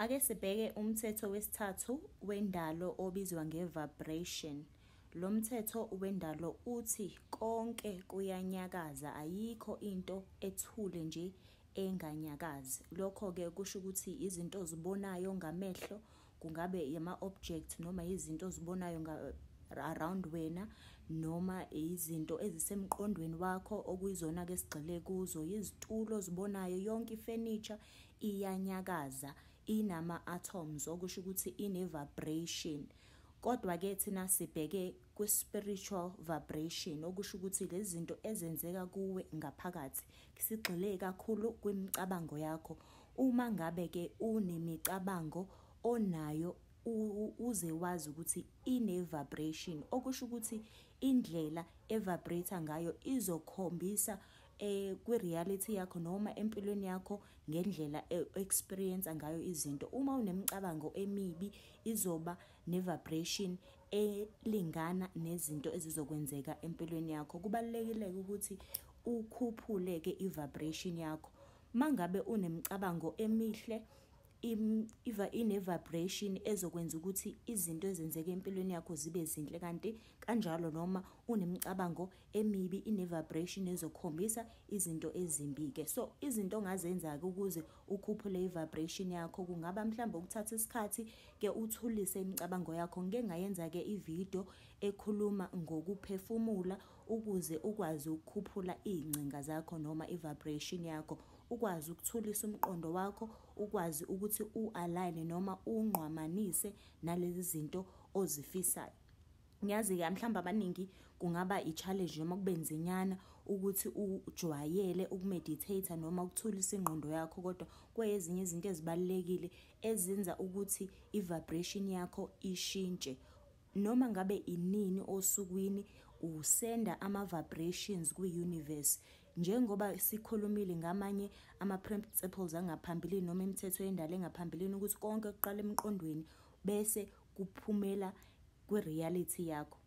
Ake sibheke umthetho wesithathu wendalo obizwa nge-vibration. Lo mthetho wendalo uthi konke kuyanyakaza, ayikho into ethule nje enganyakazi. Lokho-ke kusho ukuthi izinto ozibonayo ngamehlo, kungabe yama-object noma izinto ozibonayo around wena noma izinto ezisemqondweni wakho okuyizona-ke esigxile kuzo, yizitulo ozibonayo, yonke ifenisha. iyanyakaza inama atoms okusho ukuthi ine vibration kodwa ke thina sibheke kwi spiritual vibration okusho ukuthi lezinto ezenzeka kuwe ngaphakathi sigxile kakhulu kwimicabango yakho uma ngabe ke unemicabango onayo uze wazi ukuthi ine vibration okusho ukuthi indlela evibrate ngayo izokhombisa eh kwi reality yakho noma empilweni yakho ngendlela e, experience ngayo izinto uma unemicabango emibi izoba ne vibration elingana nezinto ezizokwenzeka empilweni yakho kubalekile ukuthi ukhuphuleke i vibration yakho mangabe unemicabango emihle iva ine vibration ezokwenza ukuthi izinto ezenzeka empilweni yakho zibe zinhle kanti kanjalo noma unemicabango emibi ine vibration ezokhombisa izinto ezimbi ke so izinto ongazenza ke ukuze ukhuphule i vibration yakho kungaba mhlawumbe ukuthatha isikhathi ke uthulise imicabango yakho ngike ngayenza ke i video ekhuluma ngokuphefumula ukuze ukwazi ukukhuphula ingcinga zakho noma i vibration yakho ukwazi ukuthulisa umqondo wakho ukwazi ukuthi u align noma ungqwamanise nalezi zinto ozifisayo ngiyazi-ke mhlawumbe abaningi kungaba i-challenge noma kube nzinyana ukuthi ujwayele ukumeditata noma ukuthulisa ingqondo yakho kodwa kweyezinye izinto ezibalulekile ezenza ukuthi i-vibration yakho ishintshe noma ngabe inini osukwini usenda ama-vibrations kwi-universe njengoba sikhulumile ngamanye ama-principles angaphambilini noma imithetho yendalo engaphambilini ukuthi konke kuqala emqondweni bese kuphumela kwi-reality yakho.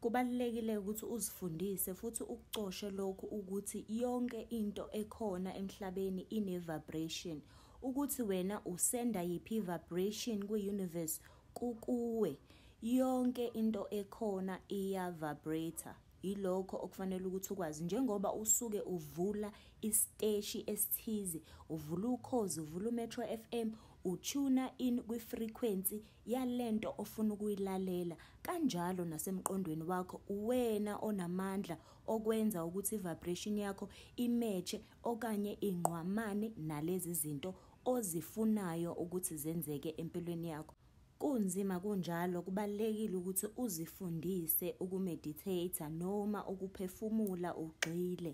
Kubalulekile ukuthi uzifundise futhi ukucoshe lokhu ukuthi yonke into ekhona emhlabeni ine-vibration. Ukuthi wena usenda yiphi vibration kwi-universe kukuwe. Yonke into ekhona iya-vibrator. Yilokho okufanele ukuthi ukwazi njengoba usuke uvula isiteshi esithize, uvula ukhozi, uvula uMetro FM, utshuna in kwi-frequency yalento ofuna ukuyilalela kanjalo nasemqondweni wakho uwena onamandla okwenza ukuthi vibration yakho imeche okanye ingqwamane nalezi zinto ozifunayo ukuthi zenzeke empilweni yakho kunzima kunjalo kubalekile ukuthi uzifundise ukumeditate noma ukuphefumula ugxile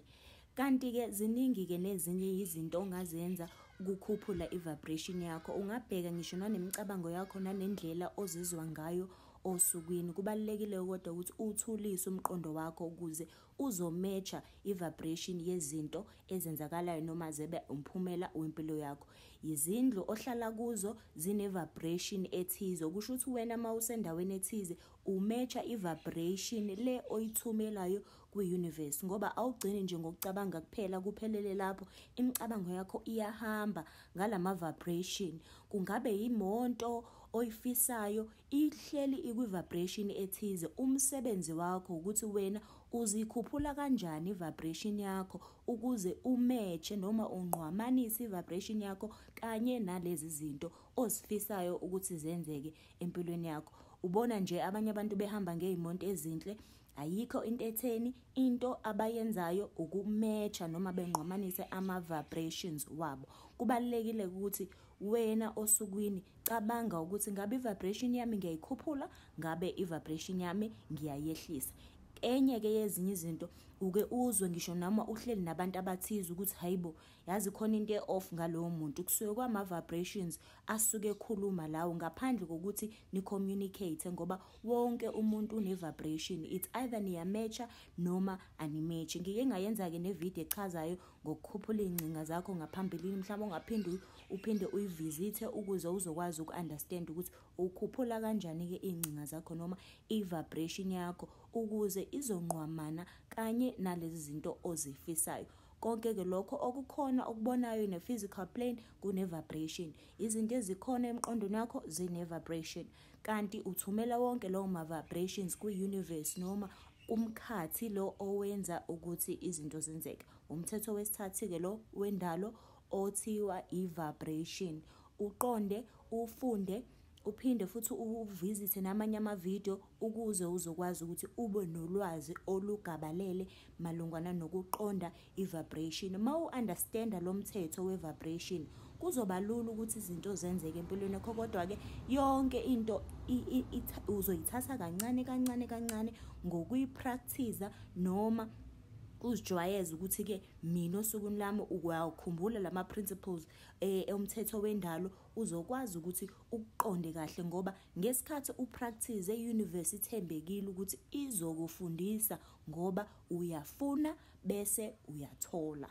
Kanti-ke ziningi-ke nezinye izinto ongazenza ukukhuphula i-vibration yakho. Ungabheka ngisho nanemicabango yakho nanendlela ozizwa ngayo osukwini. Kubalulekile kodwa ukuthi uthulise umqondo wakho ukuze uzometsha i-vibration yezinto ezenzakalayo noma zebe umphumela wempilo yakho. Izindlu ohlala kuzo zine-vibration ethize. Kusho ukuthi wena uma usendaweni ethize umetsha i-vibration le oyithumelayo kwi-universe ngoba awugcini nje ngokucabanga kuphela kuphelele lapho imicabango yakho iyahamba ngalama-vibration kungabe yimonto oyifisayo ihleli ikwi-vibration ethize umsebenzi wakho ukuthi wena uzikhuphula kanjani i-vibration yakho ukuze umetshe noma unqwamanise i-vibration yakho kanye nalezi zinto ozifisayo ukuthi zenzeke empilweni yakho ubona nje abanye abantu behamba ngey'monto ezinhle Ayikho into etheni into abayenzayo ukumecha noma bengqomanise ama vibrations wabo. Kubalekile ukuthi wena osukwini cabanga ukuthi ngabe vibration yami ngiyayikhuphula ngabe i vibration yami ngiyayehlisa. Enye ke yezinye izinto uke uzwe ngisho noma uhleli nabantu abathize ukuthi hayibo yazi khona into e-off ngalowo muntu kusuke kwama-vibrations asuke ekhuluma lawo ngaphandle kokuthi ni-communicate ngoba wonke umuntu une-vibration it's either niyamecha noma animechi ngike ngayenza-ke nevidiyo echazayo ngokukhuphula iy'ngcinga zakho ngaphambilini mhlawumbe ungaphinde uphinde uyivizithe ukuze uzokwazi uku-understand ukuthi ukhuphula kanjani-ke iy'ngcinga zakho noma i-vibration yakho ukuze izonqwamana kanye nalezi zinto ozifisayo Konke ke lokho okukhona okubonayo in a physical plane kune vibration. Izinto ezikhona emqondweni wakho zine vibration. Kanti uthumela wonke lawo ma vibrations ku universe noma kumkhathi lo owenza ukuthi izinto zenzeke. Umthetho wesithathu ke lo wendalo othiwa i vibration. Uqonde ufunde uphinde futhi uvisithe namanye ama video ukuze uzokwazi ukuthi ube nolwazi olugabalele malungana nokuqonda i-vibration uma u-understanda lo mthetho we-vibration kuzoba lula ukuthi izinto zenzeke empilweni yakho kodwa-ke yonke into uzoyithatha kancane kancane kancane ngokuyiprakthiza noma uzijwayeze ukuthi-ke mina osukwini lami ukwakhumbula la ma-principles eh, umthetho wendalo uzokwazi ukuthi ukuqonde kahle ngoba ngesikhathi upractice euniversity ithembekile ukuthi izokufundisa ngoba uyafuna bese uyathola